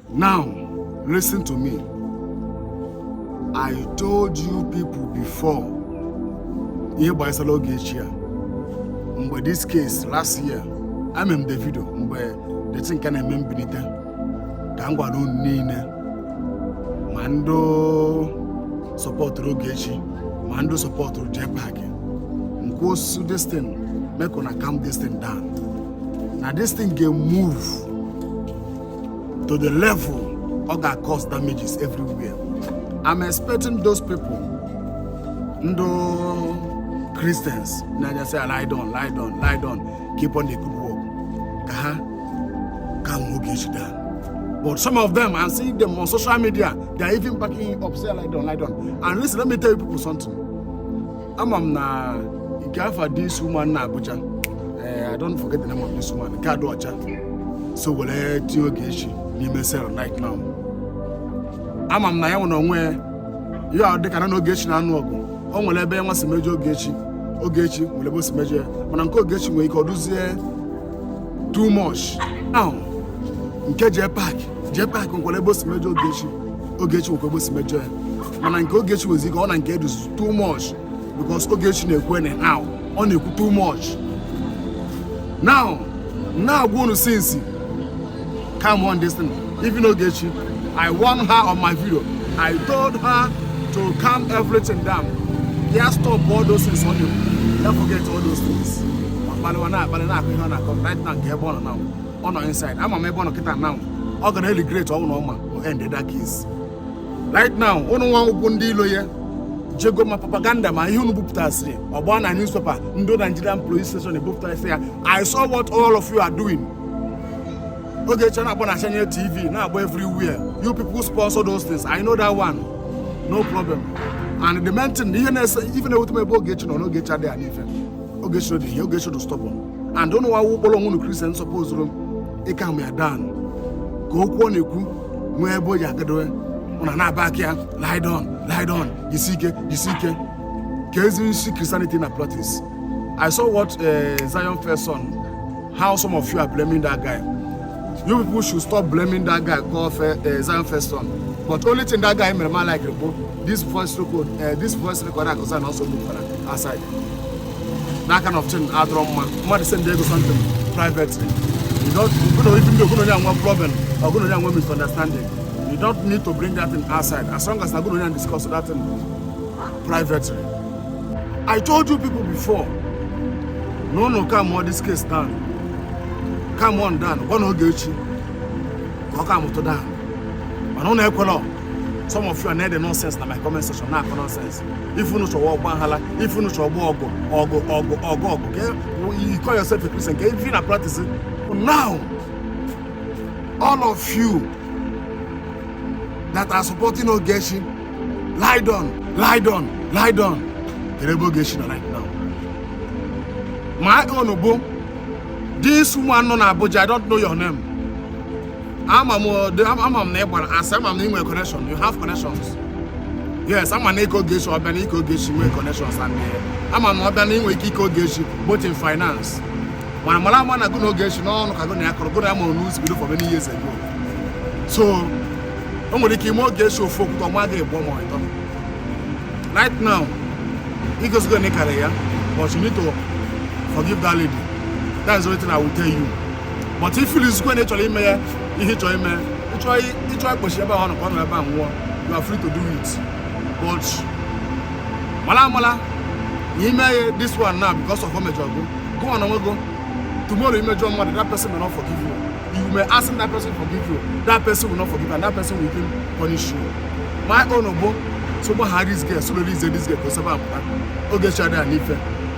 Now, listen to me. I told you people before ihe gbasara Ogechi a mgbe this case last year eme m the video mgbe the thing ka na-eme mbilite ka m gwara unu niile ma ndị sọpọtụrụ Ogechi ma ndị sọpọtụrụ Jepak unu kwụsị this thing make una calm this thing down na this thing ga-emove to the level ọ ga-cause damages everywhere I'm expecting those people ndị Christians na-aja sị lie down lie down lie down keep on the good work ka ha ka nwee oge echi daa But some of them, I'm seeing them on social media, they're even backing up, say, lie down, lie down. And listen, let me tell you people something. ama m na nke for this woman nọ na Abuja ee eh, I don't forget the name of this woman nke a dị ọcha so were tinye Ogechi n'ime cell right now ama m na ya nwere onwe ya dịka ya na Ogechi na-anụ ọgụ o nwere ebe nwa si mejọ Ogechi Ogechi nwere ebe o si mejọ ya mana nke Ogechi nwere ike ọ dịzie too much now nke Jepak Jepak nwere ebe o si mejọ Ogechi Ogechi nwekwa ebe o si mejọ ya mana nke Ogechi nwezi ike ọ na nke a dịzi too much because Ogechi na-ekwu anyhow ọ na-ekwu too much now na-agwa unu since calm down this thing even Ogechi I warn her on my video I told her to calm everything down ya stop all those things ọ na-ekwu ya forget all those things akpaliwa na-akpali na-akọ ihe ọ na-akọ right now kee ebe ọ nọ now ọ nọ inside ama m ebe ọ nọ kịta now ọ ga na-aregret ọ bụrụ na ọ ma o end that case right now ụnụ nwa bụ ndị lawyer jego ma propaganda ma ihe unu bupụtasịrị ọ gba na newspaper ndị Nigerian police station ebupụtasị ya I saw what all of you are doing Ogechi na-agba na channel TV na-agba everywhere you people sponsor those things I know that one no problem and the main thing ihe na-ese ife na-ewute m ebe Ogechi nọ na Ogechi adịghị adị ife Ogechi dị ihe Ogechi dị stubborn and ụnụ nwa kpọrọ onwe ụnụ Christian sọpozuru ịcalm ya down ka okwu ọ na-ekwu nwee ebe o ji agadowe ụna na-aba aka ya lidon lidon jisi ike jisi ike ka ezi nsi christianity na practice i saw what uh, zion first son how some of you are blaming that guy you people should stop blaming that guy call fe, uh, zion first son but only thing that guy mere ma like bụ this voice record uh, this voice record akụzan also look for aside n'aka na ọftin adọrọ mma mmadụ send ego something privately you don't you know even though ogunonye anwa problem ogunonye anwa misunderstanding you don't need to bring that thing outside as long as ogunonye and discuss that thing privately i told you people before no no come on this case down come on down gwa na oge echi ka ọ ka amụtụ down mana ụnụ ekwela some of you are na-ede nonsense na my comment section na-akọ nonsense ife unu chọ bụ ọgba aghala ife unu chọ bụ ọgụ okay you call yourself a Christian kee ife unu na-apractice now all of you that are supporting Ogechi ride on ride on ride on kee ebe Ogechi nọ right now my own bụ this woman nọ na Abuja I don't know your name ama m ama m na ị gbara asị ama m na ị nwere connection you have connections yes ama m na ị ka ogechi ọ bịa na ị ka ogechi nwee connections and ama m na ọ bịa na inwe ike ị ka ogechi both in finance mana mara ama na gụ na ogechi n'ọnụ ka gụ na ya kọrọ gụ na ya mụrụ n'uzi bido for many years ago so o nwere ike ime ogechi ofu okwute o mee gị ịbụọ ma ịtọ right now i gosigo na ị karị ya but you need to forgive that lady that's the only thing i will tell you but ị feelizikwe na ị chọrọ ime ya ihe ịchọ ime ịchọ ịchọ ịkpọchi ebe ahụ nọkwa nọ ebe a nwụọ you are free to do it but mala amala na ime ya this one now because of o mejọ gụ gụ ọ na nwe gụ tomorrow i mejọ mmadụ that person may not forgive you you may ask that person forgive you that person will not forgive and that person will even punish you my own bụ so gbaghara this girl so release this girl ka o si ebe a pụta oge chara ya n'ife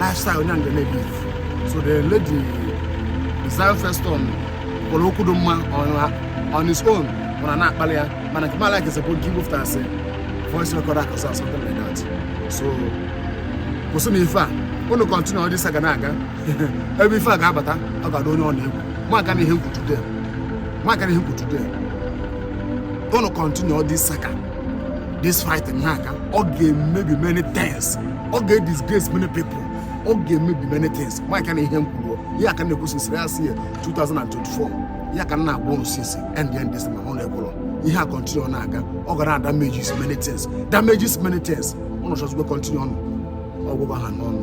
lifestyle onye nga na-ebi so the lady Zion Feston kwuru okwu dị mma on his own mụ ana-akpalị ya mana nke m alikezi bụ nke ibufta asị voice recorder or something like that so kwụsịnụ ife a unu continue all this saga na-aga ebe ife a ga-abata ọ ga-atụ onye ọna egwu markanụ ihe m kwu today markanụ ihe m kwu today unu continue all this saga this fighting na-aga ọ ga-emebi many things ọ ga-edisgrace many people ọ ga-emebi many things markanụ ihe m kwuru ihe a ka m na-ekwu since last year 2024 ya ka m na-agwa unu sị sị end end this mana unu ekwero ihe a continue ọ na-aga ọ gara damages many things damages many things unu chọzikwe continue nụ ọgwụgwọ ha n'ọnụ